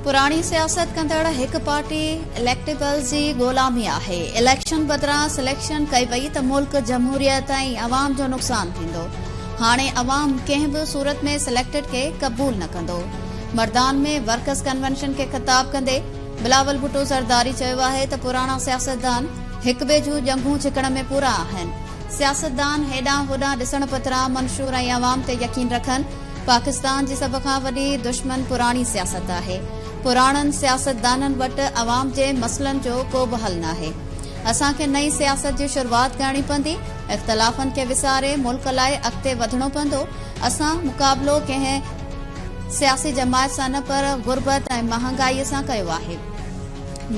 پراڻي سياست ڪندڙ هڪ پارٽي اليڪٽيبلز جي غلامي آهي اليڪشن بدران سليڪشن ڪئي وئي ته ملڪ جمهوريت ۽ عوام جو نقصان ٿيندو هاڻي عوام ڪنهن به صورت ۾ سليڪٽيڊ کي قبول نه ڪندو مردان ۾ ورڪرز ڪنوينشن کي خطاب ڪندي بلاول ڀٽو زرداري چيو آهي ته پراڻا سياستدان هڪ ٻئي جون ڄنگهون ڇڪڻ ۾ پورا آهن سياستدان هيڏانهن هوڏانهن ڏسڻ پتران منشور ۽ عوام تي يقين رکن، پاڪستان جي سڀ کان وڏي دشمن پراڻي سياست آهي، پراڻن سياستدانن وٽ عوام جي مسئلن جو ڪو به حل ناهي، اسان کي نئين سياست جي شروعات ڪرڻي پوندي، اختلافن کي وساري ملڪ لاء اڳتي وڌڻو پوندو، اسان مقابلو ڪنهن سياسي جماعت سان نه پر غربت ۽ مهانگائي سان ڪيو آهي.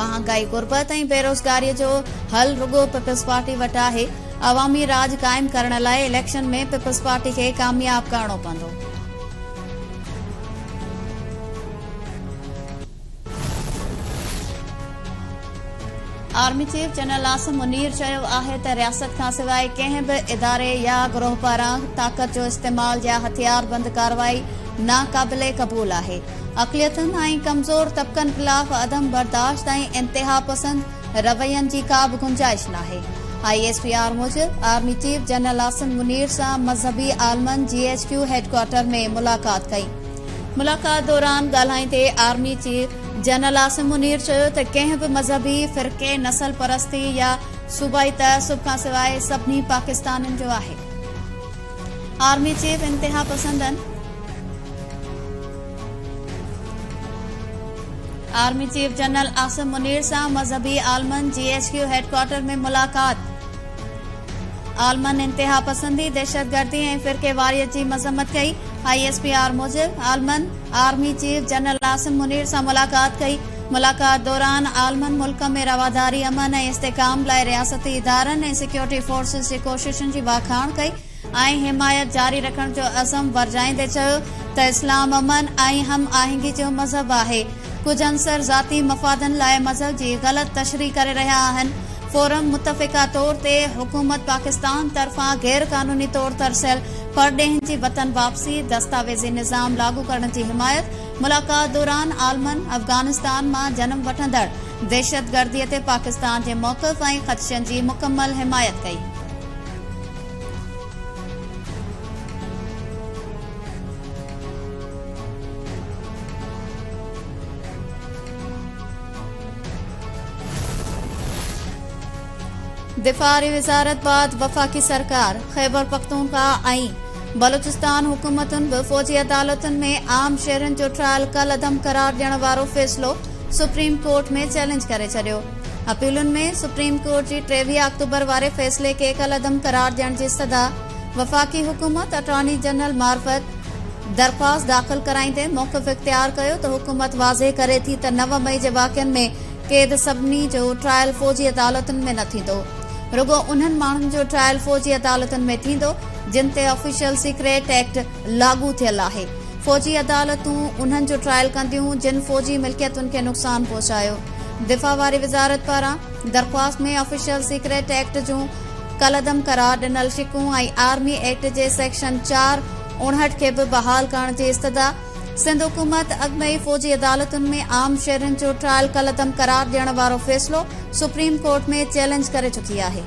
مهانگائي، غربت ۽ بيروزگاري جو حل رڳو پيپلزپارٽي وٽ آهي، عوامي راڄ قائم ڪرڻ لاء اليڪشن ۾ پيپلزپارٽي کي ڪامياب ڪرڻو پوندو. Army chief general Asim Munir چيو آهي ته رياست کانسواء ڪنهن به اداري يا گروهه پاران طاقت جو استعمال يا هٿياربند ڪارروائي ناقابل قبول آهي. اقليتن ۽ ڪمزور طبقن خلاف عدم برداشت ۽ انتهاپسند روين جي ڪا به گنجائش ناهي، آء ايس پي آر موجب army chief general Asim Munir سان مذهبي عالمن جي ايڇ ڪيو هيڊڪوارٽر ۾ ملاقات ڪئي، ملاقات دوران ڳالهائيندي army chief general Asim Munir چيو ته ڪنهن به مذهبي فرقي، نسل پرستي يا صوبائي تعصب کانسواء سڀني پاڪستانين جو آهي، آرمي چيف انتهاپسندن. Army chief general Asim Munir سان مذهبي عالمن جي ايڇ ڪيو هيڊ ڪوارٽر ۾ ملاقات، عالمن انتهاپسندي، دهشتگردي ۽ فرقيواريت جي مذمت ڪئي، آء ايس پي آر موجب عالمن army chief general Asim Munir سان ملاقات ڪئي، ملاقات دوران عالمن ملڪ ۾ رواداري، امن ۽ استحڪام لاء رياستي ادارن ۽ سيڪيورٽي فورسز جي ڪوششن جي واکاڻ ڪئي. ۽ حمايت جاري رکڻ جو عزم ورجائيندي چيو ته اسلام امن ۽ هم آهنگي جو مذهب آهي، ڪجهه عنصر ذاتي مفادن لاء مذهب جي غلط تشريح ڪري رهيا آهن، فورم متفقه طور تي حڪومت پاڪستان طرفان غير قانوني طور ترسيل پرڏيهين جي وطن واپسي دستاويزي نظام لاڳو ڪرڻ جي حمايت ملاقات دوران عالمن افغانستان مان جنم وٺندڙ دهشتگردي تي پاڪستان جي موقف ۽ خدشن جي مڪمل حمايت ڪئي. دفاع واري وزارت بعد وفاقي سرڪار، خيبرپختونخواهه ۽ بلوچستان حڪومتن به فوجي عدالتن ۾ عام شهرين جو ٽرائل ڪالعدم قرار ڏيڻ وارو فيصلو سپريم ڪورٽ ۾ چئلينج ڪري ڇڏيو اپيلن ۾ سپريم ڪورٽ جي ٽيويهه آڪٽوبر واري فيصلي کي ڪالعدم قرار ڏيڻ جي صدا، وفاقي حڪومت اٽارني جنرل معرفت درخواست داخل ڪرائيندي موقف اختيار ڪيو ته حڪومت واضح ڪري ٿي ته نو مئي جي واقعن ۾ قيد سڀني جو ٽرائل فوجي عدالتن ۾ نه ٿيندو رڳو انهن ماڻهن جو ٽرائل فوجي عدالتن ۾ ٿيندو جن تي آفيشل سيڪريٽ ايڪٽ لاڳو ٿيل آهي. فوجي عدالتون انهن جو ٽرائل ڪنديون جن فوجي ملڪيتن کي نقصان پهچايو. دفاع واري وزارت پاران درخواست ۾ آفيشل سيڪريٽ ايڪٽ جون ڪالعدم قرار ڏنل شقون ۽ آرمي ايڪٽ جي سيڪشن چار اڻهٺ کي به بحال ڪرڻ جي استدعا سنڌ حڪومت اڳ ۾ ئي فوجي عدالتن ۾ عام شهرين جو ٽرائل ڪالعدم قرار ڏيڻ وارو فيصلو سپريم ڪورٽ ۾ چئلينج ڪري چڪي آهي.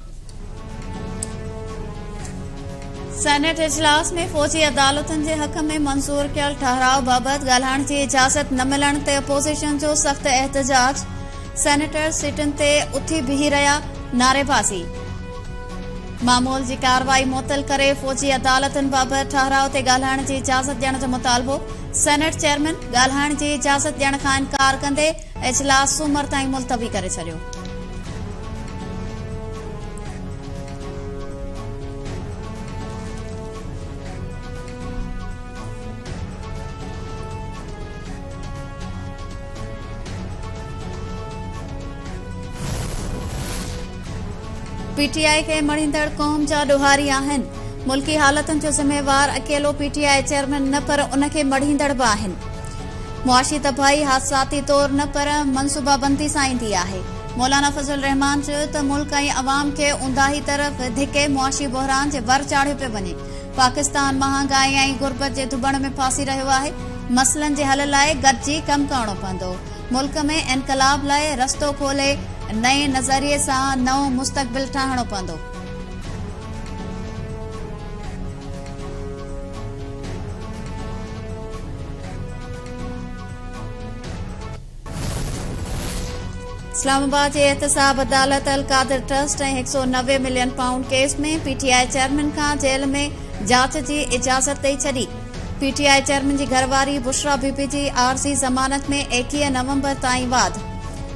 سينيٽ اجلاس ۾ فوجي عدالتن جي حق ۾ منظور ڪيل ٺهراء بابت ڳالهائڻ جي اجازت نه ملڻ تي اپوزيشن جو سخت احتجاج سينيٽر سيٽن تي اٿي بيهي رهيا نعريبازي معمول جي ڪارروائي معطل ڪري فوجي عدالتن بابت ٺهراء تي ڳالهائڻ جي اجازت ڏيڻ جو مطالبو سينيٽ چيئرمين ڳالهائڻ جي اجازت ڏيڻ کان انڪار ڪندي اجلاس سومر تائين ملتوي ڪري ڇڏيو. پي ٽي آء کي مڙهيندڙ قوم جا ڏوهاري آهن، ملڪي حالتن جو ذميوار اڪيلو پي ٽي آء چيئرمين نه پر ان کي مڙهيندڙ به آهن، معاشي تباهي حادثاتي طور نه پر منصوبابندي سان ايندي آهي. مولانا فضل الرحمان چيو ته ملڪ ۽ عوام کي اونداهي طرف ڌڪي معاشي بحران جي ور چاڙهيو پيو وڃي. پاڪستان مهانگائي ۽ غربت جي ڌٻڻ ۾ ڦاسي رهيو آهي. مسئلن جي حل لاء گڏجي ڪم ڪرڻو پوندو. ملڪ ۾ انقلاب لاء رستو کولي نئين نظريي سان نئون مستقبل ٺاهڻو پوندو. اسلام آباد جي احتساب عدالت القادر ٽرسٽ ۽ هڪ سؤ نوي million pound case ۾ P T I chairman کان جيل ۾ جاچ جي اجازت ڏئي ڇڏي پي ٽي آء چيئرمين جي گهرواري بشرا بي بي جي عارضي ضمانت ۾ ايڪيهه نومبر تائين واد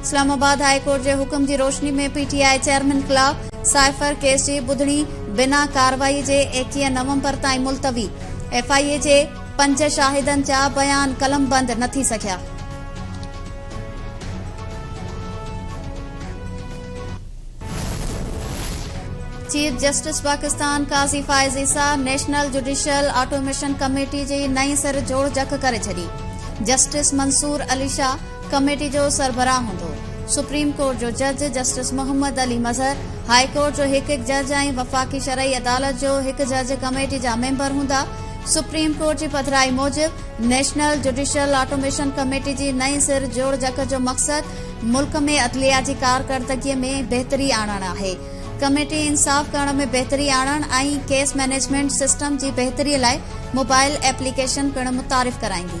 اسلام آباد هاء ڪورٽ جي حڪم جي روشني ۾ پي ٽي آء چيئرمين خلاف سائفر ڪيس جي ٻڌڻي بنا ڪارروائي جي ايڪيهه نومبر تائين ملتوي، ايف آء اي جي پنج شاهدن جا بيان قلمبند نه ٿي سگهيا. Chief justice Pakistan Qazi Faez Isa national judicial automation committee جي نئين سر جوڙجڪ ڪري ڇڏي، جسٽس منصور علي شاهه، ڪميٽي جو سربراهه هوندو. سپريم ڪورٽ جو جج justice Muhammad Ali Mazhar, high court جو هڪ هڪ جج ۽ وفاقي شرعي عدالت جو هڪ جج ڪميٽي جا ميمبر هوندا. سپريم ڪورٽ جي پڌرائي موجب نيشنل جوڊيشل آٽوميشن ڪميٽي جي نئين سر جوڙجڪ جو مقصد ملڪ ۾ عدليه جي ڪارڪردگي ۾ بهتري آڻڻ آهي. ڪميٽي انصاف ڪرڻ ۾ بهتري آڻڻ ۽ ڪيس مئنيجمينٽ سسٽم جي بهتري لاء موبائل ايپليڪيشن پڻ متعارف ڪرائيندي.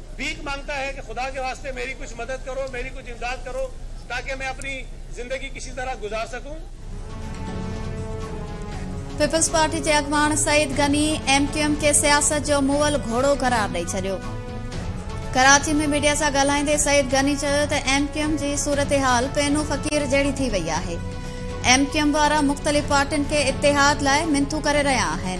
ڀيڪ مانگتا هي ڪي خدا ڪي واسطي ميري ڪجھ مدد ڪرو ميري ڪجھ امداد ڪرو تاڪي مين اپني زندگي ڪسي طرح گذار سڪون. پيپلزپارٽي جي اڳواڻ Saeed Ghani M Q M کي سياست جو مئل گهوڙو قرار ڏئي ڇڏيو ڪراچي ۾ ميڊيا سان ڳالهائيندي سعيد غني چيو ته ايم ڪيو ايم جي صورتحال پينو فقير جهڙي ٿي وئي آهي ايم ڪيو ايم وارا مختلف پارٽين کي اتحاد لاء منٿون ڪري رهيا آهن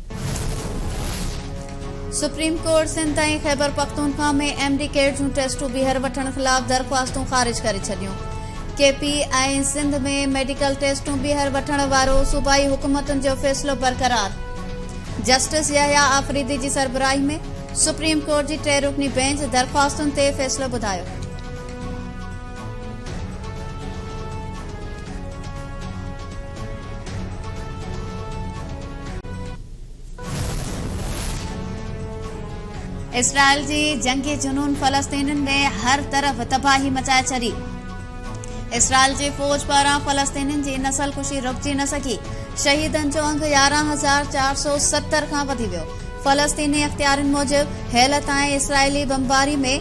supreme court Sindh ۽ Khyber Pakhtunkhwa ۾ M D CAT جون ٽيسٽون ٻيهر وٺڻ خلاف درخواستون خارج ڪري ڇڏيون ڪي پي ۽ سنڌ ۾ ميڊيڪل ٽيسٽون ٻيهر وٺڻ وارو صوبائي حڪومتن جو فيصلو برقرار جسٽس يحيٰ آفريدي جي سربراهي ۾ سپريم ڪورٽ جي ٽي رڪني بينچ درخواستن تي فيصلو ٻڌايو اسرائيل جي جنگي جنون فلسطينين ۾ هر طرف تباهي مچائي ڇڏي اسرائيل جي فوج پاران فلسطينين جي نسل ڪشي رڪجي نه سگهي شهيدن جو انگ يارهن هزار چار سؤ ستر کان وڌي ويو فلسطيني اختيارين موجب هيل تائين اسرائيلي بمباري ۾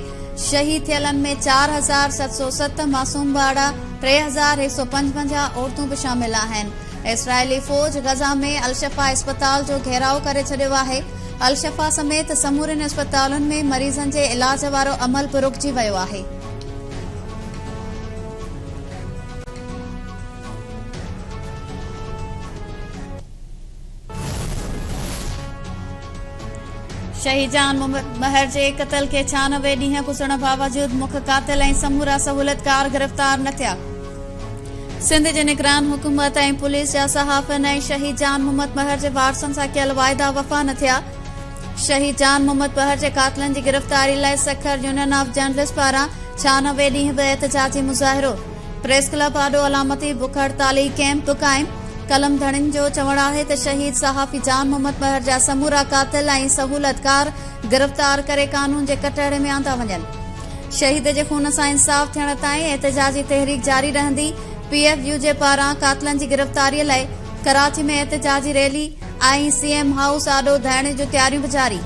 شهيد ٿيلن ۾ چار هزار ست سؤ ست معصوم ٻارڙا، ٽي هزار هڪ سؤ پنجونجاهه عورتون به شامل آهن. اسرائيلي فوج غزه ۾ الشفا اسپتال جو گهيراء ڪري ڇڏيو آهي. الشفا سميت سمورين اسپتالن ۾ مريضن جي علاج وارو عمل به رڪجي ويو آهي. شهيد جان مهر جي قتل کي ڇهانوي ڏينهن گذرڻ باوجود مک قاتل ۽ سمورا سهولتڪار گرفتار نه ٿيا سنڌ جي نگران حڪومت ۽ پوليس جا صحافين ۽ شهيد جان محمد مهر جي وارثن سان ڪيل واعدا وفا نه ٿيا شهيد جان محمد مهر جي قاتلن جي گرفتاري لاء سکر يونين آف جرنلسٽ پاران ڇهانوي ڏينهن به احتجاجي مظاهرو پريس ڪلب آڏو علامتي بک هڙتالي ڪئمپ به قائم، قلم ڌڻين جو چوڻ آهي ته شهيد صحافي جان محمد مهر جا سمورا قاتل ۽ سهولتڪار گرفتار ڪري قانون جي ڪٽهڙي ۾ آندا وڃن، شهيد جي خون سان انصاف ٿيڻ تائين احتجاجي تحريڪ جاري رهندي، پي ايف يو جي پاران قاتلن جي گرفتاري لاء ڪراچي ۾ احتجاجي ريلي ۽ سي ايم هائوس آڏو ڌرڻي جون تياريون به جاري.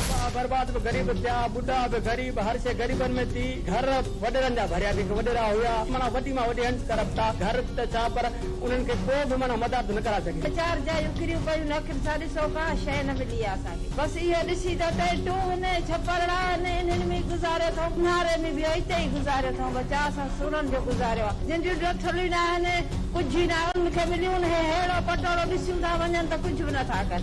ٻاهه برباد به غريب ٿيا، ٻڍا به غريب، هر شيء غريبن ۾ ٿي، گهر وڏيرن جا ڀريا ڪنهن کي وڏيرا هيا، معنيٰ وڏي مان وڏي هنچ ڪرپ ٿا، گهر ته ڇا پر انهن کي ڪو به معنيٰ مدار ٿو نه ڪرائي سگهي. ٻه چار جايون ڪريون پيون نه اکين سان ڏسو ڪا شيء نه ملي آ اسان کي، بس اهو ڏسي ته اتي ٽون ۽ ڇپرڙا آهن انهن ۾ ئي گذاريو ٿئون، اونهاري ۾ به اتي ئي گذاريو ٿئون، بس چاء سان سورن جو گذاريو آ، جن جون ڊٿلون ئي نه آهن، ڪجهه ئي نه آهي انهن کي مليون، هي ههڙو پٽوڙو ڏسيون ٿا وڃن ته ڪجهه به نه ٿا ڪن.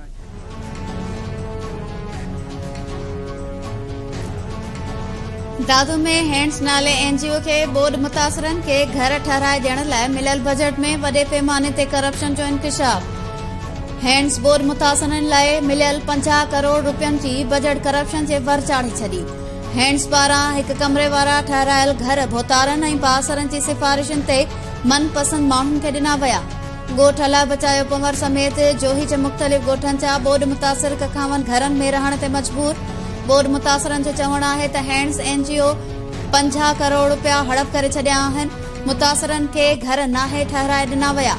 دادو ۾ هينڊز نالي اين جي او کي ٻوڏ متاثرن کي گهر ٺهرائي ڏيڻ لاء مليل بجيٽ ۾ وڏي پيماني تي ڪرپشن جو انڪشاف هينڊز ٻوڏ متاثرن لاء مليل پنجاهه ڪروڙ روپين جي بجيٽ ڪرپشن جي ور چاڙهي ڇڏي هينڊز پاران هڪ ڪمري وارا ٺهرايل گهر ڀوتارن ۽ بااثرن جي سفارشن تي من پسند ماڻهن کي ڏنا ويا ڳوٺ الاء بچايو پنور سميت جوهي جي مختلف ڳوٺن جا ٻوڏ متاثر ڪکاون گهرن ۾ رهڻ تي مجبور، ٻوڏ متاثرن جو چوڻ آهي ته هينڊز اين جي او پنجاهه ڪروڙ رپيا هڙپ ڪري ڇڏيا آهن، متاثرن کي گهر ناهي ٺهرائي ڏنا ويا.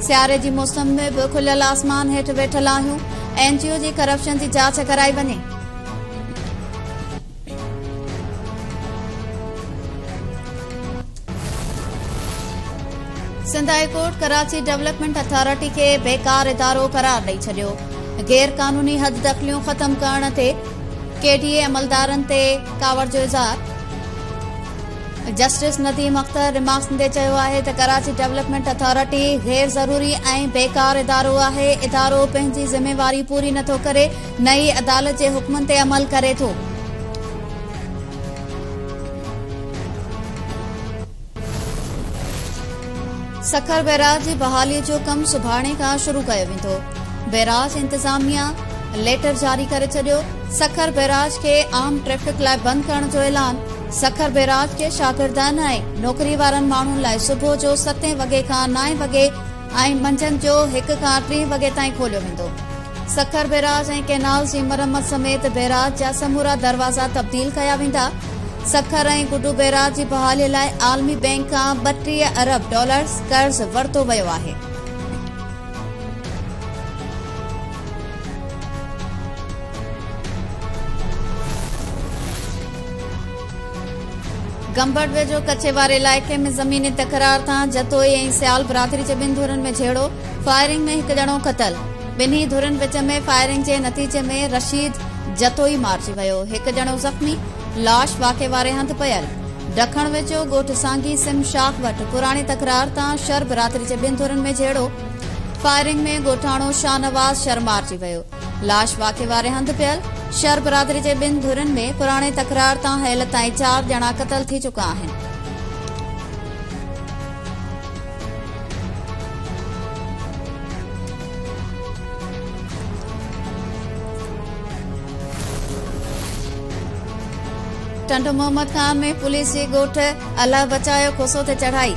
سياري جي موسم ۾ به کليل آسمان هيٺ ويٺل آهيون، اين جي او جي ڪرپشن جي جاچ ڪرائي وڃي. Sindh high court Karachi development authority کي بيڪار ادارو قرار ڏئي ڇڏيو غير قانوني حد دخليون ختم ڪرڻ تي ڪي ڊي اي عملدارن تي ڪاوڙ جو اظهار جسٽس نديم اختر رمارڪس ڏيندي چيو آهي ته ڪراچي ڊولپمينٽ اٿارٽي غير ضروري ۽ بيڪار ادارو آهي ادارو پنهنجي ذميواري پوري نٿو ڪري نه ئي عدالت جي حڪمن تي عمل ڪري ٿو. سکر بئراج جي بحالي جو ڪم سڀاڻي کان شروع ڪيو ويندو، بئراج انتظاميا ليٽر جاري ڪري ڇڏيو، سکر بئراج کي عام ٽريفڪ لاء بند ڪرڻ جو اعلان، سکر بئراج کي شاگردن ۽ نوڪري وارن ماڻهن لاء صبح جو ستين وڳي کان نائين وڳي ۽ منجهند جو هڪ کان ٽي وڳي تائين کوليو ويندو. سکر بيراج ۽ ڪئنالز جي مرمت سميت بيراج جا سمورا دروازا تبديل ڪيا ويندا. سکر ۽ گڊو بيراج جي بحالي لاء عالمي بئنڪ کان ٻٽيهه ارب ڊالرز قرض ورتو ويو آهي. گمبٽ ويجهو ڪچي واري علائقي ۾ زميني تڪرار تان جتوئي ۽ سيال برادري جي ٻن ڌرين ۾ جهيڙو، فائرنگ ۾ هڪ ڄڻو قتل. ٻنهي ڌرين وچ ۾ فائرنگ جي نتيجي ۾ رشيد جتوئي مارجي ويو، هڪ ڄڻو زخمي، لاش واقعي واري هنڌ پيل. ڊکڻ ويجهو ڳوٺ سانگي سم شاخ وٽ پراڻي تڪرار تان شر برادري جي ٻن ڌرين ۾ جهيڙو، فائرنگ ۾ ڳوٺاڻو شاهنواز شر مارجي ويو. لاش واقعي واري هنڌ پيل. شر برادري جي ٻن ڌرين ۾ پراڻي تڪرار تان هيل تائين چار ڄڻا قتل ٿي چڪا آهن. ٽنڊو محمد خان ۾ پوليس جي ڳوٺ الله بچايو کوسو تي چڙهائي،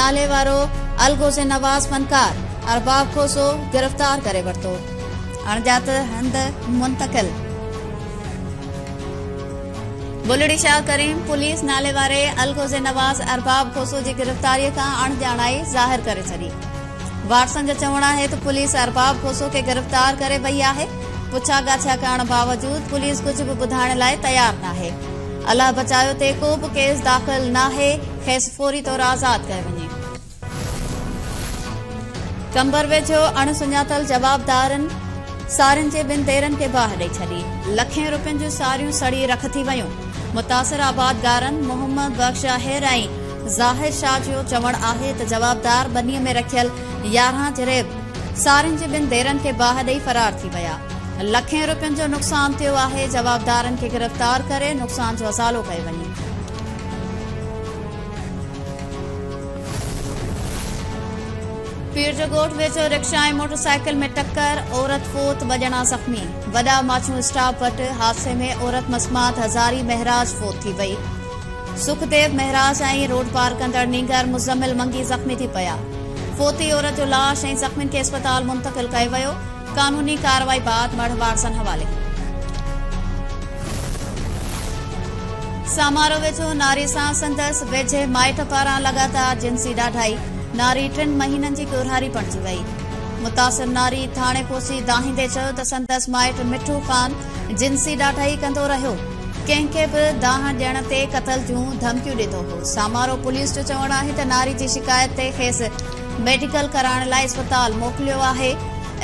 ناليوارو الغوث نواز فنڪار ارباب کوسو گرفتار ڪري ورتو. اڻڄات هنڌ منتقل بلڙي شاهه ڪريم پوليس ناليواري الغوزي نواز ارباب کوسو جي گرفتاري کان اڻڄاڻائي ظاهر ڪري ڇڏي وارثن جو چوڻ آهي ته پوليس ارباب کوسو کي گرفتار ڪري وئي آهي پڇا ڳاڇا ڪرڻ باوجود پوليس ڪجهه به ٻڌائڻ لاء تيار ناهي الله بچايو تي ڪو به ڪيس داخل ناهي کيس فوري طور آزاد ڪيو وڃي قمبر ويجهو اڻ سڃاتل جوابدارن سارين جي ٻن ديرن کي باهه ڏئي ڇڏي، لکين روپين جون ساريون سڙي رک ٿي ويون، متاثر آبادگارن محمد بخش آهر ۽ ظاهر شاهه جو چوڻ آهي ته جوابدار ٻني ۾ رکيل يارهن جريب سارين جي ٻن ديرن کي باهه ڏئي فرار ٿي ويا، لکين روپين جو نقصان ٿيو آهي، جوابدارن کي گرفتار ڪري نقصان جو ازالو ڪيو وڃي. پيرجڳوٺ ويجهو رڪشا ۽ موٽرسائيڪل ۾ ٽڪر، عورت فوت ٻه ڄڻا زخمي، وڏا ماڇون اسٽاپ وٽ حادثي ۾ عورت مسمات هزاري مهراج فوت ٿي وئي، سکديو مهراج ۽ روڊ پار ڪندڙ نينگر مزمل منگي زخمي ٿي پيا، فوتي عورت جو لاش ۽ زخمين کي اسپتال منتقل ڪيو ويو. قانوني ڪارروائي بعد مڙهه وارثن حوالي. سامارو ويجهو ناري سان سندس ويجهي مائٽ پاران لڳاتار جنسي ڏاڍائي، ناري ٽن مهينن جي ڳورهاري بڻجي وئي. متاثر ناري ٿاڻي پهچي دانهيندي چيو ته سندس مائٽ مٺو خان جنسي ڏاڍائي ڪندو رهيو، ڪنهن کي به دانهن ڏيڻ تي قتل جون ڌمڪيون ڏيندو هو. سامارو پوليس جو چوڻ آهي ته ناري جي شڪايت تي کيس ميڊيڪل ڪرائڻ لاء اسپتال موڪليو آهي،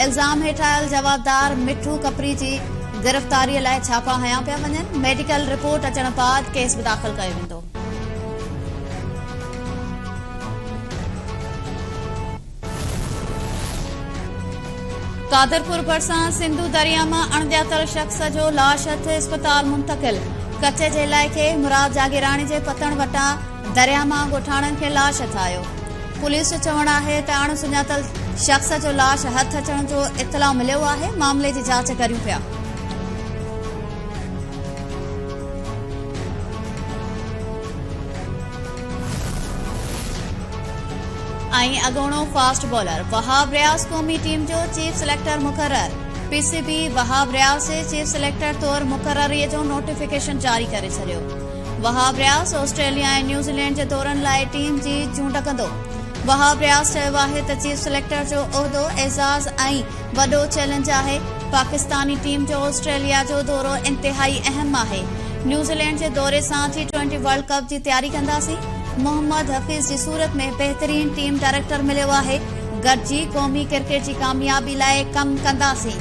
الزام هيٺ آيل جوابدار مٺو ڪپري جي گرفتاري لاء ڇاپا هنيا پيا وڃن، ميڊيڪل رپورٽ اچڻ بعد ڪيس به داخل ڪيو ويندو. قادرپور ڀرسان سنڌو درياء مان اڻڄاتل شخص جو لاش هٿ اسپتال منتقل، ڪچي جي علائقي مراد جاگيراڻي جي پتڻ وٽان درياهه مان ڳوٺاڻن کي لاش اٿايو پوليس جو چوڻ آهي ته اڻ سڃاتل شخص جو لاش هٿ اچڻ جو اطلاع مليو آهي معاملي جي جاچ ڪريون پيا ۽ اڳوڻو فاسٽ بالر وهاب رياض قومي ٽيم جو چيف سليڪٽر مقرر P C B Wahab Riaz جي چيف سليڪٽر طور مقرري جو نوٽيفڪيشن جاري ڪري ڇڏيو وهاب رياض آسٽريليا ۽ نيوزيلينڊ جي دورن لاء ٽيم جي چونڊ ڪندو وهاب رياض چيو آهي ته چيف سليڪٽر جو عهدو اعزاز ۽ وڏو چئلينج آهي پاڪستاني ٽيم جو آسٽريليا جو دورو انتهائي اهم آهي نيوزيلينڊ جي دوري سان ٽي ٽوئنٽي ورلڊ ڪپ جي تياري ڪنداسين محمد حفيظ جي صورت ۾ بهترين ٽيم ڊائريڪٽر مليو آهي گڏجي قومي ڪرڪيٽ جي ڪاميابي لاء ڪم ڪنداسين